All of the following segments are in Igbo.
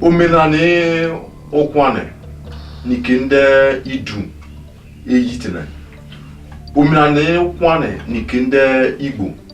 omenani ụkwanị nike ndị idu eyitina omenani ụkwanị nike ndị igbo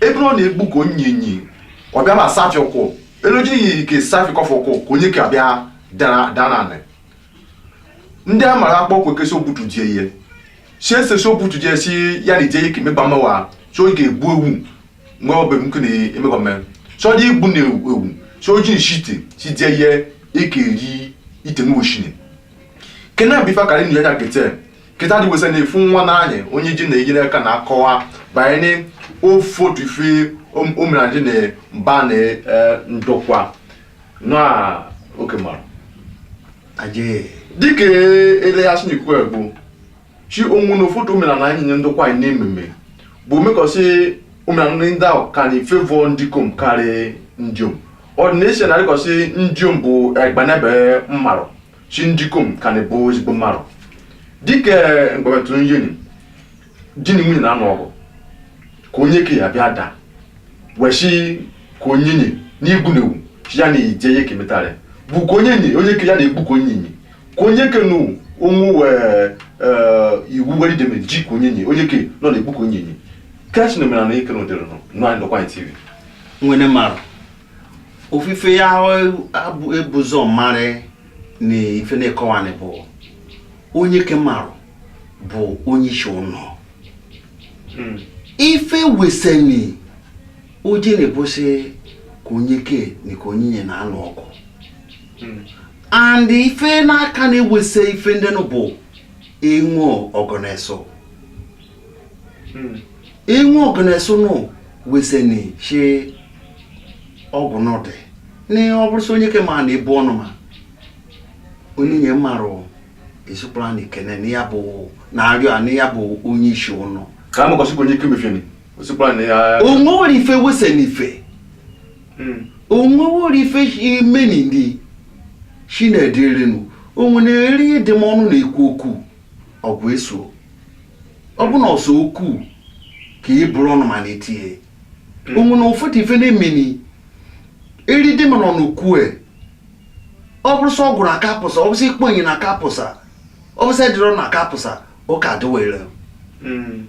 ebe ọ na-egbu ka onyenye ka ọ bịara asafi ụkwụ eloji iyi ka safi kọfụ ụkwụ ka onyeke bịa dara- daa n'anị ndị a mara akpọ okwe kesi obutu die ihe si ese si obutu die si ya na ije ihe ka emegba mmewa sị o je egbu ewu nwe ọbụ m kene emegba mme sị o ji egbu na ewu ewu so oji nshite si die ihe eke eri ite n'oshini kena bifa kari nu yanya kete kịta dị wesa na-efu nwa n'anyị onye ji na-enyere aka na akọwa banyere ụfọdụ ife omenala na mba na eh, ndokwa na oke mara aje dịka eleghasị na ikwu bụ chi o nwene ụfọdụ omenala anyị nye ndokwa anyị na-ememe bụ omekọsị omenala ndị ahụ ka na favour ndikom karị ndiom ọdịnesi na dịkọsị ndiom bụ egbanebe mmarụ shi ndikom ka na-abụ ezigbo mmarụ dịka mgbametụ nyeni di na nwunye na-anụ ọgụ ka onyeke ya bịa daa wee shi ka onyenye n'igbu na ewu shi ya na-eje ihe ka emetara ya bụ ka onyenye onyeke ya na-egbu ka onyenye ka onyeke na onwu wee ee, iwu were ideme ji ka onyenye onyeke nọ na-egbu ka onyenye ke shi na omenala ike na ụdịrị nọ nọ anyị nọkwa anyị tv nwene mmarụ ofu ife ya ebu ụzọ marị na ife na-ekọwanị bụ onyeke mmarụ bụ onye isi ụnọ hmm. ife weseni o ji na-abụ sị ka onyeke na ka onyenye na-anụ ọgụ hmm. and ife na-aka na-ewesa ife ndị bụ iwe ọgụ na eso iwe ọgụ na eso nụ weseni shi ọgụ n'ọdị na ọ bụrụ sị onyeke ma na-ebu ọnụma onyenye mmarụ ezikwara na ikene na ya bụ na arịọ a na ya bụ onye isi ụnọ ka a makọsị onyeke mefere o sikwara na ya onwe nwere ife weseni ife onwe nwere ife imeni ndị shi na ị dịrị nụ o nwene eri ịdị m ọnụ na-ekwu okwu ọgụ eso ọgụ na eso okwu ka e buru ọnụma na-etinye hmm. o nwene ụfọdụ ife na-emeni eri dị mana ọnụ kwue ọ bụrụ sị ọ gwụrụ aka pụsa ọ bụ sị ị kpọ ya na aka pụsa ọ bụ sị ị dọrọ na aka pụsa ụka adịwere hmm.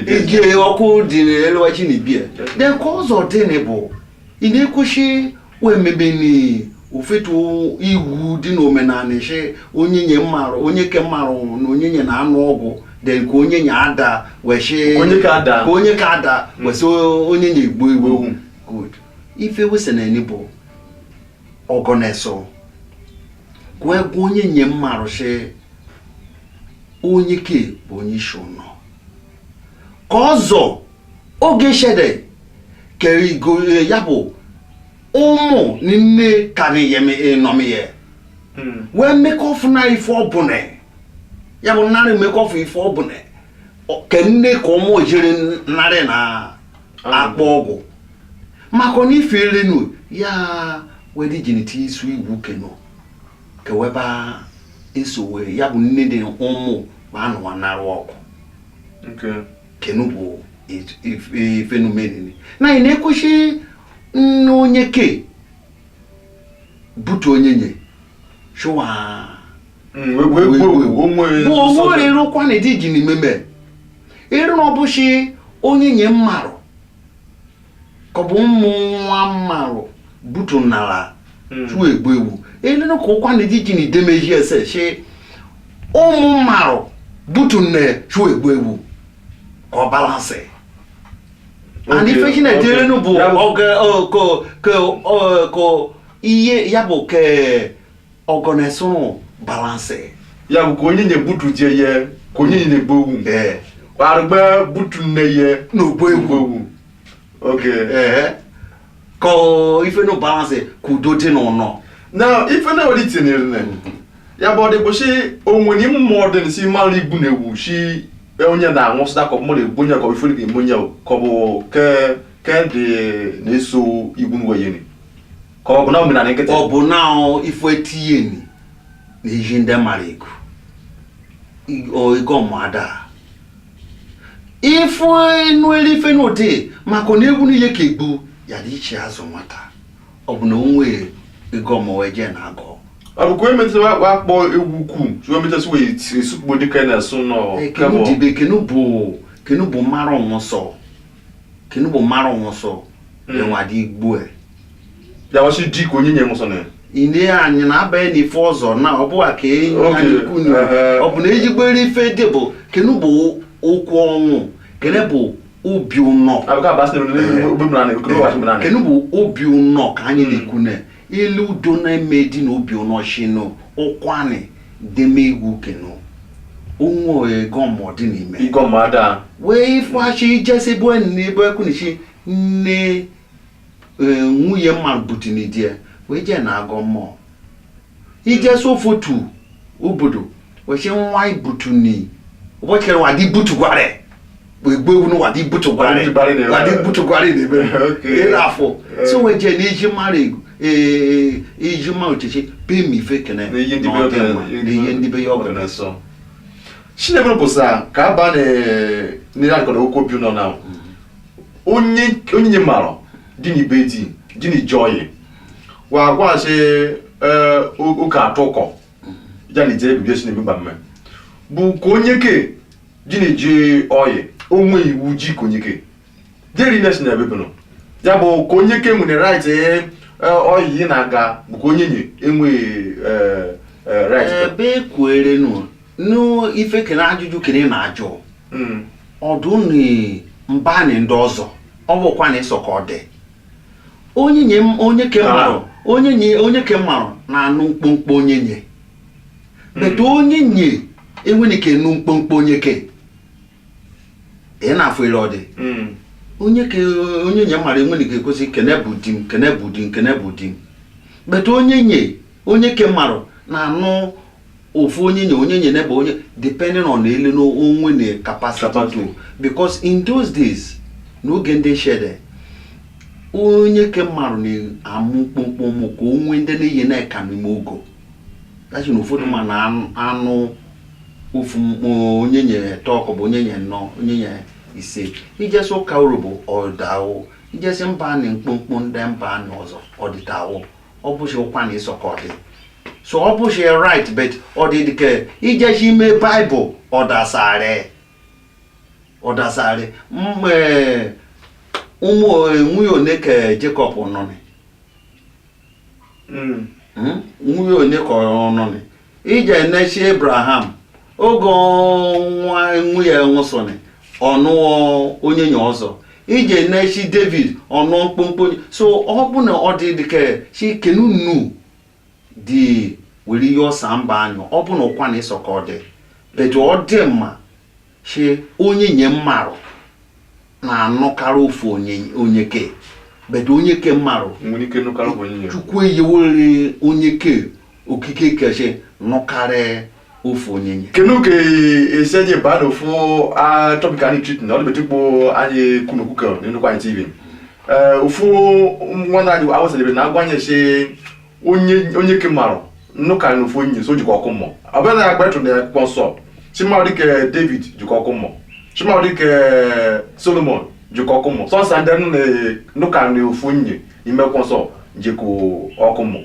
ije ọkụ dị n'elu chi na ibie then ka ụzọ dị na bụ ị na-ekwu shi wee mebe ụfọdụ iwu dị n'omenanị shi onyenye mmarụ onyeke mmarụ na onyenye na-anụ ọgụ then ka onyenye ada wesị onyeke ada ka onyeke ada hmm. wee sị onyenye gbuo ewu hmm. good ife weseni bụ ọgụ na eso gwa gwa onyenye mmarụ sị onyeke bụ onye isi ụnọ ka ọzọ oge shede kerigo ya bụ ụmụ n'ime ka na-eyeme ịnọmiye wee mmekọfụ na ife ọbụla ya bụ narị mmekọfụ ife ọbụla Ọ- ka nne ka ụmụ jiri narị na akpọ ọgwụ maka na ife erenu ya were jinite isu iwu kenu keweba esowe ya bụ nne dị ụmụ bụ anụwa narụ ọkụ kenu bụ ifenumenini na anyị na-ekwusi nne onye ke butu onyenye chụwa onwere ịrụkwa na ịdị ji n'imeme ịrụ na ọ bụchi onyenye mmarụ ka ọ bụ ụmụ nwa mmalụ butu nala hmm. tụọ egbu egbu elenu ka ụkwa na ejiji na idemeji ese shi ụmụ mmalụ butu nne tụọ egbu egbu ka ọ balance and ife shi na-eti elenu bụ oge ka ihe ya bụ ke ọgọ na-ese ụnụ balance ya bụ ka onye na-egbutu je ye ka onye na-egbu owu ee kparịgba butu nne ye n'ogbo egwu owu oge ee ka ọ ife nụ balance ka udo dị n'ụnọ na ife na-ewere itinyere na ya bụ ọdịbụ si onwere mmụọ ọdịn si mara igbu na ewu si onye na-anwụ sịta ka mmadụ egbu onye ka ọ ifere ga-eme onye ka ọ bụ ke ke dị na-eso igbu na weyere ka ọ bụ na omenala nkịtị ọ bụ na ife etinye ni na ihe ndị mara ego ịgọ mmụọ ada ife nụ elu ife n'ụdị maka na egwu n'ihe ka egbu ya dị iche azụ nwata ọ bụ na onwe ịgọ mmụọ wee jee na agụ abụkwa emetụta wakpa akpọ egwu ukwu chụwa emetụta wee esukpo dịka na asụ nọ kenu dibe kenu bụ kenu bụ mara ọnwụsọ kenu bụ mara ọnwụsọ enwe adị egbu e ya wasi di ka onyenye muso ne ine anyị na-abanye n'ife ọzọ na ọ bụwa ka enyi Okay. anyị kwunu Ehe. ọ bụ na ejigbere ife dị bụ kenu bụ ụkwụ ọnwụ kene bụ obi ụnọ abuka basi ne ne obi mura ne ko wa shi mura ne kenu bụ obi ụnọ ka anyị na-ekwune ilu udo na-eme di na obi ụnọ shinu ụkwanị deme iwu kenu onwe ịgọ mmụọ dị n'ime ịgọ mmụọ ada wee ifeachi ijesi bụ enyi na ebe ekwunichi nne Ee, nwunye mmarụ butini di ya wee jee na-agọ mmụọ ije so ụfọdụ obodo wee sị nwa ibutuni ụbọchị kere nwa di butugwara ya. wee gbuo ewu n'ụwa di butugwara ya. Wadibari na-ebe. Wa di butugwara ya na-ebe Okay. ịrụ afọ si wee jee na iji mara ego ee iji mara ochichi pee ma ife kene Na ihe ndị na be ọ dị ọbụla- mma, na ihe ndị be ya ọ bụla sọ chinebere bụ sa ka aba na-akọrọ okwu obi nọ na onye onye nye mmarụ dịnị be di jeni ji ọyị wa gwa sị ee ụka atụkọ ya na ije ebibi esi n'ebe mgbamme bụ ka onye ke jeni ji ọyị o nwe iwu ji ka onye ke jeri na si na ebe bụnụ ya bụ ka onye ke nwere right ee ọyị ị na-aga bụ ka onye nye enweghị ee, ee, right ebe ekwuere nụ n'ife kene ajụjụ kene na ajụ hmm. ọ dịnị mba na ndị ọzọ ọ bụ Ụkwụanị sọ ka ọ dị onye nye onye ke mmarụ onye nye onye ke mmarụ na-anụ mkpomkpo onye nye hmm. but onye nye enwere ike nụ mkpomkpo onye ke ị na-afụ ele ọ dị hmm. onye ke onye nye mmarụ enwere ike kwu sị kene bụ di m kene bụ di m kene bụ di m but onye nye onye ke mmarụ na-anụ ofu onye nye onye nye neba onye depending on ele na o nwe na capacity Capacity. to because in those days n'oge ndị shede onye ke mmadụ na-amụ mkpomkpo ụmụ ka o nwee ndị na-eyeni eka n'ime ogo dachi na ụfọdụ ma na anụ- anụ ofu mkpụ onye nye tọ kọ bụ onye nye nọ onye nye ise ijesi ụka Urhobo ọdawụ ijesi mba anị mkpomkpo ndị mba anị ọzọ ọdịtawụ ọ bụghị Ụkwụanị sọ ka ọ dị so ọ bụghị right but ọ dị dịka ijesi ime Bible ọdasarị ọdasarị mgbe eh, ụmụ eh, nwunye one ka Jacob nụnị? Hmm? nwunye one ka ọ nụnị? ije enechi Abraham oge nwa nwunye nwụsịnị ọ nụọ onye nye ọzọ ije enechi David ọ nụọ mkpomkpo onye- so ọ bụ na ọ dị dịka sị kenu nu dị were ihe ọsa mba anyị ọ bụ na Ụkwụanị sọ ka ọ dị but ọ dị mma si onye nye mmarụ na-anụkarị ofu onye ke but onye ke mmarụ chukwu eyewere onye ke okike kechi nụkarị ofu onye nye kenu ka esi eji baa na ofu topic anyị treat na ọdịbetụ ikpo anyị kwuni okwu ka n'Ụkwụanị TV ofu nwa na-adị Osadebe na-agwa anyị si onye onye ke mara nnụ ka n'ofu onye si o jeko ọkụ mmụọ ọ bụrụ na ya gbatụ na akwụkwọ nsọ si mmarụ dịka david jeko ọkụ mmụọ si mmarụ dịka solomon jeko ọkụ mmụọ sọsọ ndị nụ na- nụ ka n'ofu onye n'ime akwụkwọ nsọ jeko ọkụ mmụọ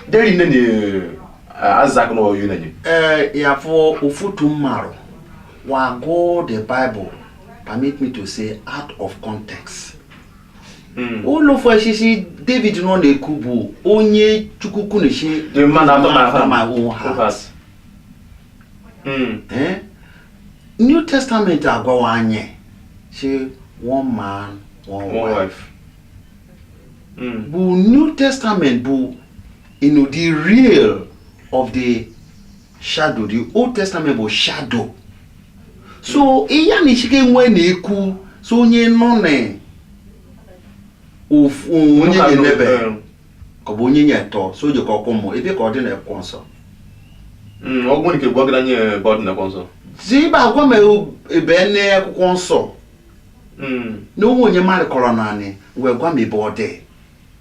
deri nne na isaac na oyu nenye Eh, ya for ọtụtụ mmarụ wa gụọ the bible permit me to say out of context hmm. ụlọ ofesisi david nọ na-ekwu bụ onye chukwu kwuni si hmm. eh? new testament agwawa anyị si one man one, one wife, wife. Mm. bụ new testament bụ you know, the real of the shadow the old testament bụ shadow so ihe a na-echiga wee na-ekwu so onye nụ na ofu onye Local na-enebe law, eh, ka ọ bụ onye nye tọ si o jeko ọkụ mmụọ ebee ka ọ dị na akwụkwọ nsọ mm, ọ bụrụ nke bụ ọgara nye ebe ọ dị na akwụkwọ nsọ si bịa gwa m ebe na akwụkwọ nsọ na o nwe onye mmadụ kọrọ naanị wee gwa m ebe ọ dị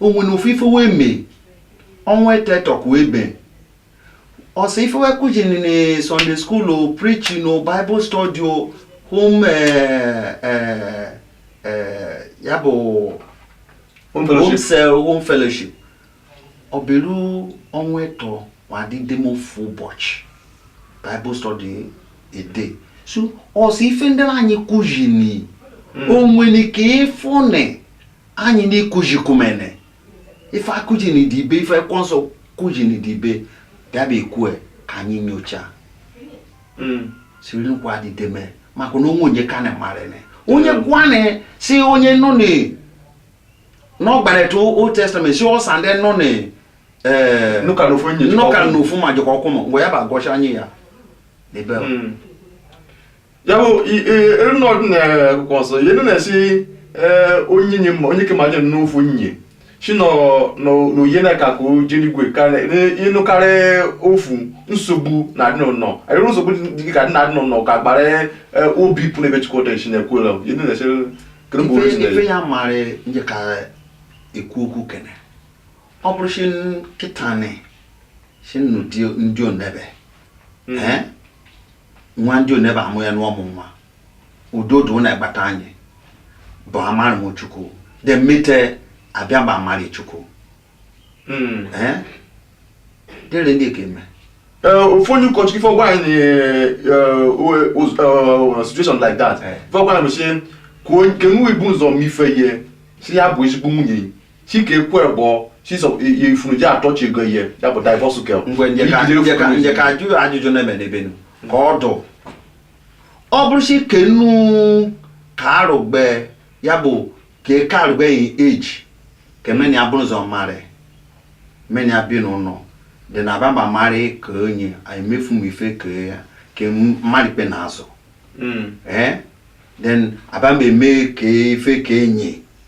o nwene ofu ife wee mee ọnwa etetọkụ ebe ọ sọ ife wee kuzi na sunday school o preaching o bible study o home eh, eh, eh, ya bụ Home home fellowship. cell home fellowship ọ bịaru ọnwa ịtọ wa dị deme ofu ụbọchị bible study a day so ọ sọ ife ndị anyị kuzini o nwere ka ịfụnị anyị n'ikujikumene ife a kuji na idibe ife akwụkwọ nsọ kuji na idibe ya bụ e kwue ka anyị nyocha hmm. siri nkwa dideme maka na o nwe onye ka na marịnị onye hmm. gwanị si onye nọ na n'ọgbarịta old testament si ọsa ndị nụ na eh, nụka n'ofu ma jeko ọkụ mmụọ ya bụ a gosi anyị ya n'ebe hmm. ya bụ na ọ dị na akwụkwọ nsọ ihe na-esi ee onye nye mma onye ke ma nye n'ofu nye si nọ n'oye na ka ka o je eligwe ịnụkarị ofu nsogbu na-adị n'ụlọ arịrị nsogbu dị ka dị na-adị n'ụlọ ka gbara ee, obi pụ n'ebe chukwu dị nshi na-ekwela ihe na-esi kedu mgbe onye si ife na-esi ya mara nje ka ekwu okwu kene ọ bụrụ si kịta ni si n'ụdị ndị onebe ee nwa ndị onebe amụ ya n'ọmụ nwa udo dị na agbata anyị bụ amarị chukwu then mete abịa mba amarị chukwu hmm. eh? dịrị ndị ka eme ofu onye ụkọchukwu ife ọ gwa anyị na situation like that ife ọ gwa anyị bụ si kwuo nke nwa i bu ụzọ mfe ihe si ya bụ ezigbo nwunye chike kwe bụ chiso ifuru ji atọchi ego ihe ya bụ divorce kel ngwe nje ka- nje ka- nje ka ajụ ajụjụ na-eme n'ebenu ka ọ dụ ọ bụrụ si kenu ka arụgbe ya bụ ka eke arụgbe yi eji ka meni ya bụrụ ụzọ marry meni ya bi n'ụlọ then a baba marry ka onye emefu m ife ka ya ka marry ikpe n'azụ ee then a baba eme ka ife ka enyi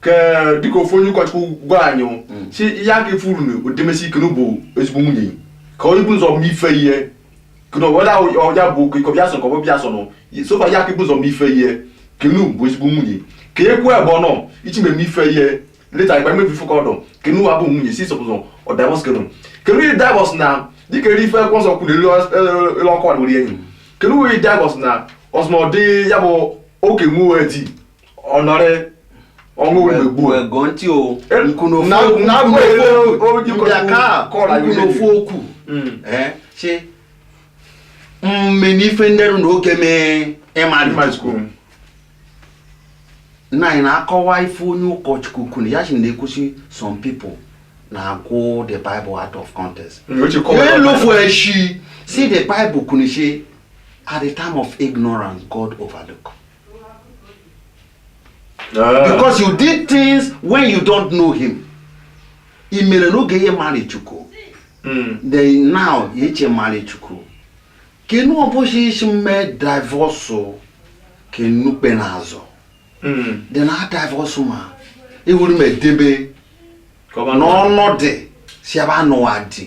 ka dịka ofu onye ụkọchukwu gwara anyị si ihe a ga-efu uru na odemesi ikenu bụ ezigbo nwunye ka onye bụ ụzọ mma ife ihe kenu ọda ọja bụ okike ọbịa sọ ka ọbụ bịa sọ nọ sofa ya ka bụ ụzọ mma ife ihe kenu bụ ezigbo nwunye ka ekwu ebe ọ nọ ichi mmemme ife ihe leta ikpe mmebi ife ka ọdọ kenu abụ nwunye si sọpụzọ ọ divorce kenu kenu iri divorce na dịka eri ife kwọ nsọ kwuru elu ọkụ adịwere enyi kenu iri divorce na ọsụmọdị ya bụ oke nwe di ọnọrị ọnwụ wee gbuo wee gụọ ntị o Eh, nkụ na- n'ofu na- nkụ n'ofu na- okwu o- o- mbịa ka kọrọ anyị nkụ ihe n'ofu okwu Mm. Eh, sị mmeni ife ndị rụ na oge mee ịmarị Ịmarị Chukwu. nna anyị na-akọwa ife onye ụkọchukwu kwuru ya si na-ekwu si some people na-aquote the Bible out of context Mm, o ji kọwa ya elofu eshi si the Bible kwuru si at the time of ignorance God overlook Ah. because you did things when you don't know him i mere n'oge ihe marị Chukwu Mm. then now ya eche marị Chukwu kenu ọbụchi isi mme divorce kenu kpe n'azụ Mm. then a divorce ma ewuru m edebe Ka ọ ma na n'ọnọdụ si ebe anụwa dị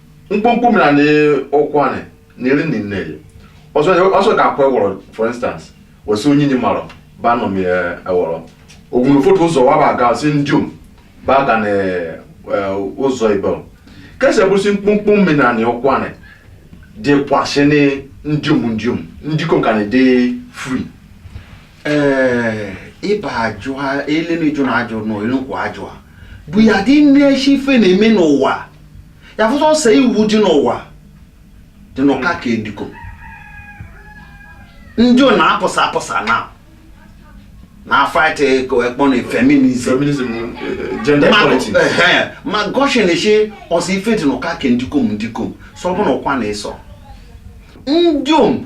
mkpọkpọ mini ọkụ nị na eri niine ya ọsọ ọsọ ka akwa ewọrọ for instance wesi onye nyi marọ ba nọ mi ewọrọ ogun ụfọdụ ụzọ wa ba ga si ndiom ba ga na ụzọ ibe kese bụsi mkpọkpọ mini ọkụ nị dị kwasị ní ndiom ndiom ndikom ka na dị free ịba ajụ ha elele jụ na ajụ na olukwu ajụ ha bụ ya dị nne echi ife na-eme n'ụwa ya bụ si iwu dị n'ụwa dị n'ụka ka ndikom ndiom na-apụsa apụsa na na-afight ekpọ na feminism feminism eh, gender Ma- equality ehe, ma gọshi na-eche o si ife dị n'ụka ka ndikom ndikom sọ bụ na ụkwa na ịsọ ndiom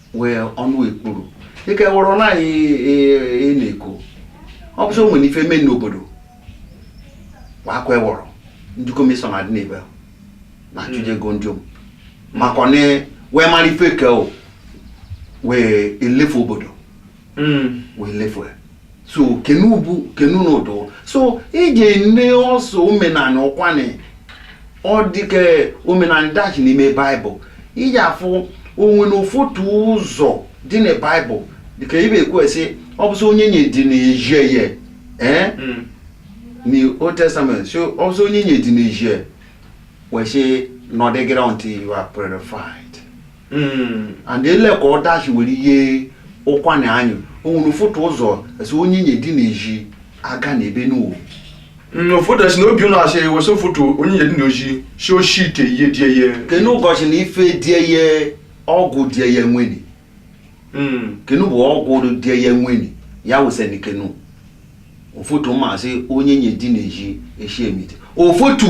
wee ọnụ ekpuru dịka ewụrụ na anyị e, e, e na-eko ọ bụsị o nwere ife mee n'obodo kwa akwa ewọrọ ndikom sọ na-adị n'ebe ahụ na achụje ego ndiom maka ọ na wee mara ife ka o wee elefu obodo hmm. wee lefu ya so kenu bụ kenu n'ụdụ so ị ga-ene ọsọ omenanị Ụkwụanị ọ dịka omenanị dachi n'ime baịbụl iji afụ o nwe na ụfọdụ ụzọ dị na baịbụl dịka ebe e kwu sị ọ bụsị onyenye dị n'ezi ya ee eh? hmm. na old testament so ọ bụsị onyenye dị n'ezi wee sị nọdegere until you are purified Hmm, and ele ka ọ dachi were ihe Ụkwụanị anyị o nwere ụfọtụ ụzọ a sị onyenye dị n'ezi agana ebe nụwa hmm, ụfọdụ si na obi ụlọ asị wesị ụfọtụ onyenye dị n'ezi si eshi ite ihe die ihe kenu gosi na ife die ihe ọgwụ die ihe nwere hmm. kenu bụ ọgwụ die ihe nwere ya wesịrị kenu ụfọtụ masị onyenye dị n'ezi eshi emite ụfọtụ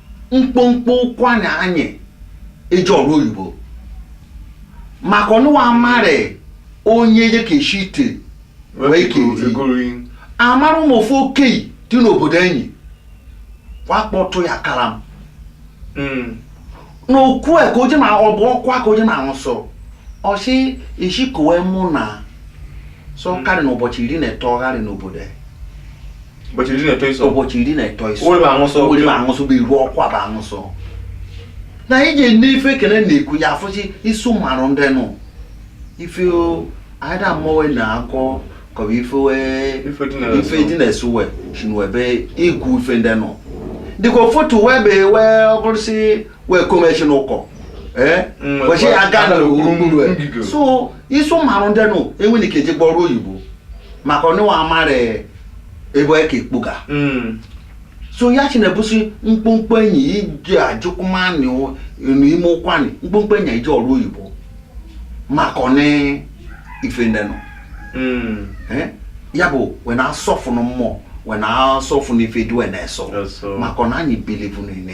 mkpomkpo Ụkwụanị anyị eje ọrụ oyibo maka ọnụwa amarị onyenye ka eshi ite wee ka eti egori amara ụmụ ofu okei dị n'obodo anyị wakpọtụ ya kara m Mm. n'okwu a ka oje na ọ bụ ọkwa ka oje na-aṅụ sọ ọsị isi kowe mụ na sọ karị n'ụbọchị iri na ịtọ gharị n'obodo a. ụbọchị iri na ịtọ iso ụbọchị iri na ịtọ iso ụlọ aṅụsọ ụlọ ma aṅụsọ bụ iru ọkwa bụ aṅụsọ na anyị ji nne ife ekele na-ekwu ya afụchi isu marụ ndị nụ ife anyị da mmọnwe na-akọ kọba ife ife dị na-esu we chinwebe ikwu ife ndị nụ dịka ụfọtụ wee be wee ọ bụrụ si wee komechi n'ụkọ ee kwechi ya aga na so isu marụ ndị nụ enweghị ike eje ọrụ oyibo maka onye nwa amara ebe onye ka ekpoga Mm. so ya chi na-ebusi mkpomkpo anyị eje ajụkwụmanị n'ime Ụkwụanị mkpomkpo anyị eje ọrụ oyibo maka ọ na ife ndị nọ Mm. Eh? ya bụ wee na-asọfụnụ mmụọ wee na-asọfụnụ ife dị wee na-asọ Eso. maka ọ na anyị believe nụ na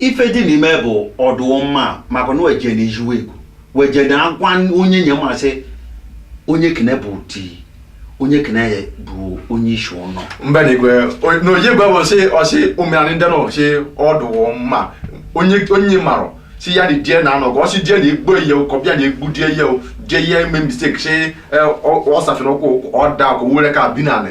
ife dị n'ime bụ ọ dị mma maka na weje na ijiwe ego weje na agwa onyenye masị onyeke na bụ di onyeke na bụ onye isi ụlọ mba na igwe o- na oye gwa ọsị ọsị omenanị ndị nọ sị ọ dụwọ mma onyenye marụ si ya dị die na anọ ka ọsị die na egbu ihe ụkọ bịa na egbu die ihe o die ihe ime mistake sị ọsafina ụkwụ ọda ka were ka bi nanị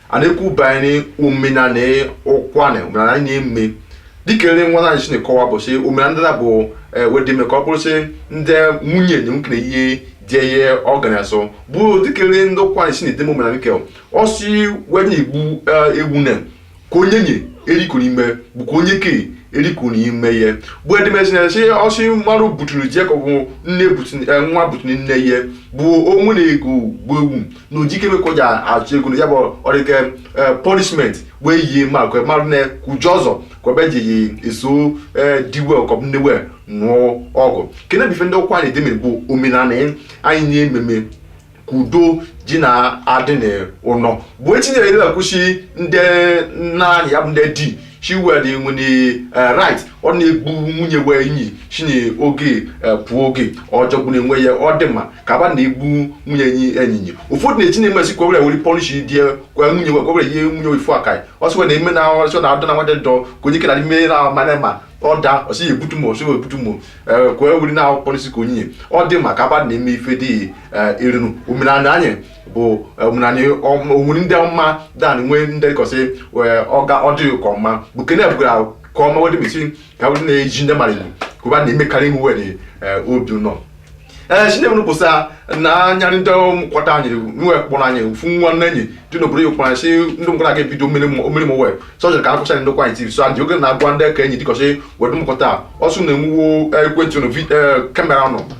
a na-ekwu banyere omenanị Ụkwụanị omenanị anyị na-eme dịka ere nwa anyị si na-ekọwa bụ sị omenanị ndị na bụ eh, wedeme ka ọ bụrụ sị ndị nwunye na nwoke na ihe dị ihe ọ ga na-asọ bụ dịka ere ndị Ụkwụanị si na-edeme omenanị nke ọ si wee na-egbu eh, ewu na ka onyenye eriko n'ime bụ ka onyeke eriko n'ime ihe bụ edemesi na sị ọsị mmadụ buturu je ka ọ bụ nne butu- eh, nwa buturu nne ihe bụ o nwe na e gbu ewu na ojikere ka o ji achụ ego na ya bụ ọrịke punishment wee yie ma kwe mmadụ na-ekwuji ọzọ ka ọ bịa ji yi eso ee di we ka ọ bụ nne wee nụọ ọgụ kene bụ ife ndị Ụkwụanị deme bụ omenani anyị na-ememe ka udo ji na-adị n'ụnọ bụ echinyere ebe akwụsị ndị nna anyị ya bụ ndị di she were the when the uh, right ọ na-egbu nwunye wee nyi chinye oge eh, pụọ oge ọjọgbụ na-enwe ya ọ dị mma ka ba na-egbu nwunye enyi enyinye ụfọdụ na-echi na-emesi kwewere were punish dị kwa nwunye wee kwewere ihe nwunye wee fụ aka ọsị wee na-eme na ọsị na adọ na nwadị dọ ka onye kena ime na amana ma ọ da ọsị ya ebutu ma ọsị wee butu ma eh, kwee were na punish ka onye ọ dị mma ka ba na-eme ife dị eh, erinu omenani anyị bụ omenani onwere ndị ọma dan nwee ndị kọsị wee ọga ọdịghị ka ọma bụ kene bụgara ka ọma wedị mesi ka wedị na-eji ndị mmadụ kụba na-emekarị ihu wedị obi nọ ee chineke nụ kwụsa na anya ndị ụmụkwata anyị nwe kpọrọ anyị fụ nwa nne enyi dị n'obodo ya kpọrọ si ndị mkwara aga ebido mmiri m wee sọjọ ka akụcha Ndokwa anyị tv so adị oge na-agwa ndị ka enyi dịkọsị wedị mụkọta ọsụ na-enwuwo ekwentị nụ camera nọ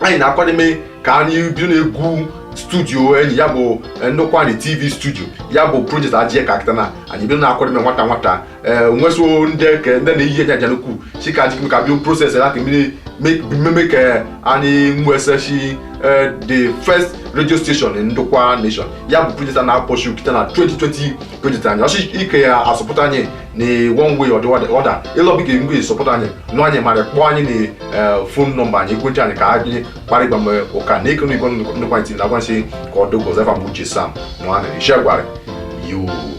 anyị na-akwademe ka anyị bido na-egwu studio enyi ya bụ eh, Ndokwa anyị tv studio ya bụ project ajie ka akịta na anyị bido na-akwademe nwata nwata ee nweso ndị ke ndị na-eyi enye aja n'ukwu si ka anyị ka bido process ya ka mmiri mmemme ka anyị nwesechi eh, the first radio station in ndokwa nation ya bụ project a na-akpọchi kịta na 2020 project anyị ọchị ike ya a-support anyị na one way or the other ịlọbi ga ngwe support anyị nụ anyị mara kpọọ anyị na eh, phone number anyị ekwentị anyị ka anyị kpara ịgba mgbe ụka na ịkụrụ igwe ndịkwa ntị na agwansị ka ọ dogo zefa mgbe uche sam nụ anyị ishiegwari yoo